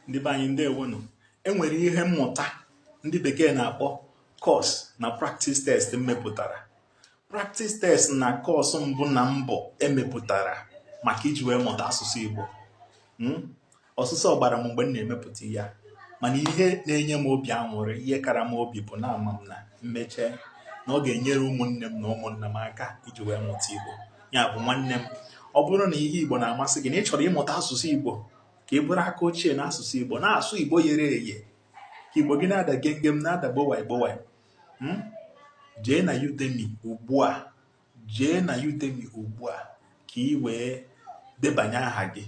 ndị be anyị ndewonụ enwere ihe mmụta ndị bekee na-akpọ course na practice test m mepụtara practice test na course mbụ na mbụ emepụtara maka iji wee mụta asụsụ Igbo hmm? ọsụsọ gbara m mgbe m na-emepụta ya mana ihe na-enye m obi anwụrị ihe kara m obi bụ na ama m na mmeche na ọ ga-enyere ụmụnne m na ụmụnna m aka iji wee mụta Igbo ya bụ nwanne m ọ bụrụ na ihe igbo na-amasị gị na ị chọrọ ịmụta asụsụ igbo ka ị bụrụ aka ochie na asụsụ igbo na-asụ igbo yere eye ka igbo gị na-ada gengem na-ada gbowai gbowai hmm? jee na Udemy ugbu a jee na Udemy ugbu a ka ị wee debanye aha gị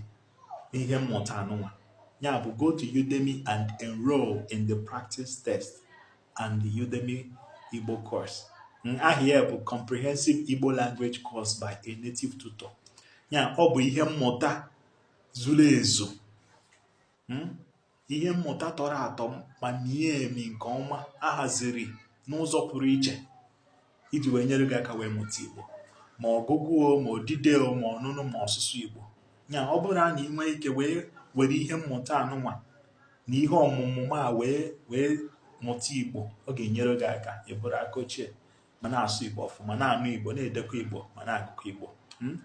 n'ihe mmụta anụnwa ya bụ go to Udemy and enroll in the practice test and the Udemy Igbo course aha ya bụ comprehensive Igbo language course by a native tutor ya ọ bụ ihe mmụta zuru ezu hmm? ihe mmụta tọrọ atọ ma mie emi nke ọma ahaziri n'ụzọ pụrụ iche iji wee nyere gị aka wee mụta Igbo ma ọgụgụ o ma odide o ma ọnụnụ ma ọsụsụ Igbo ya ọ bụrụ na ị nwee ike wee were ihe mmụta anụnwa na ihe ọmụmụ m a wee mụta Igbo ọ ga-enyere gị aka ịbụrụ aka ochie ma na-asụ Igbo ọfụma na-anụ Igbo na-edekọ Igbo ma na-agụkọ Igbo hmm?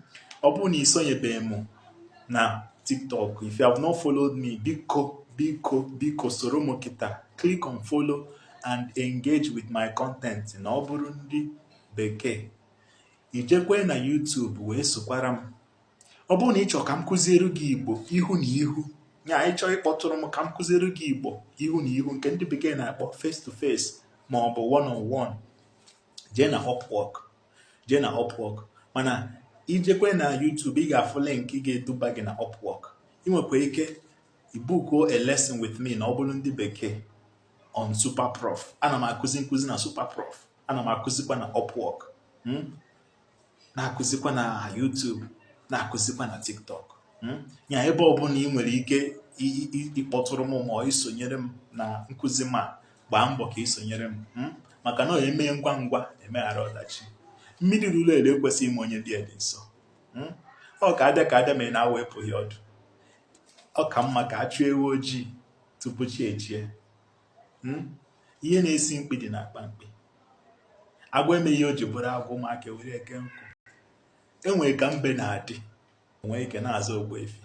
ọ bụrụ na isonyebeghị m na tiktok if you have not followed me biko biko biko soro m kịta click on follow and engage with my content na ọ bụrụ ndị bekee ijekwe na YouTube wee sokwara m ọ bụrụ na ịchọ ka m kụziere gị Igbo ihu na ihu nya ịchọ ịkpọtụrụ m ka m kụziere gị Igbo ihu na ihu nke ndị bekee na-akpọ face to face ma ọ bụ one on one jee na Upwork jee na Upwork mana ijekwe na YouTube ị ga-afụ link ga-eduba gị na Upwork ị nwekwa ike ibukuo a lesson with me na ọ bụrụ ndị bekee on Superprof ana m akụzi nkụzi na Superprof ana m akụzikwa na Upwork hmm? na-akụzikwa na YouTube na-akụzikwa na TikTok hmm? ya ebe ọbụla ị nwere ike ịkpọtụrụ m ma isonyere m na nkụzi m a gbaa mbọ ka ị sonyere m hmm? maka na emee ngwa ngwa emeghara ọdachi mmiri ruru eru ekwesịghị ime onye dị dị nsọ hmm? ọ ka abịa ka abịa mee na awọ epughị ọdụ ọ ka mma ka a chụọ ewu ojii tupu chi ejie hmm? ihe na-esi mkpi dị na akpa mkpi agwọ emeghị ihe o ji bụrụ agwọ ụmụaka ewere ya kee nkụ enwere ka mbe na-adị enwee ike na-aza ogbuefi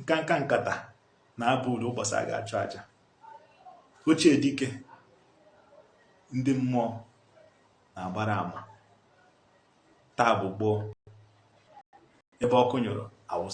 nkanka nkata na-aba uru ụbọchị a ga-achụ aja ochie dike ndị mmụọ na-agbara ama taa bụ gboo ebe ọkụ nyụrụ awụsa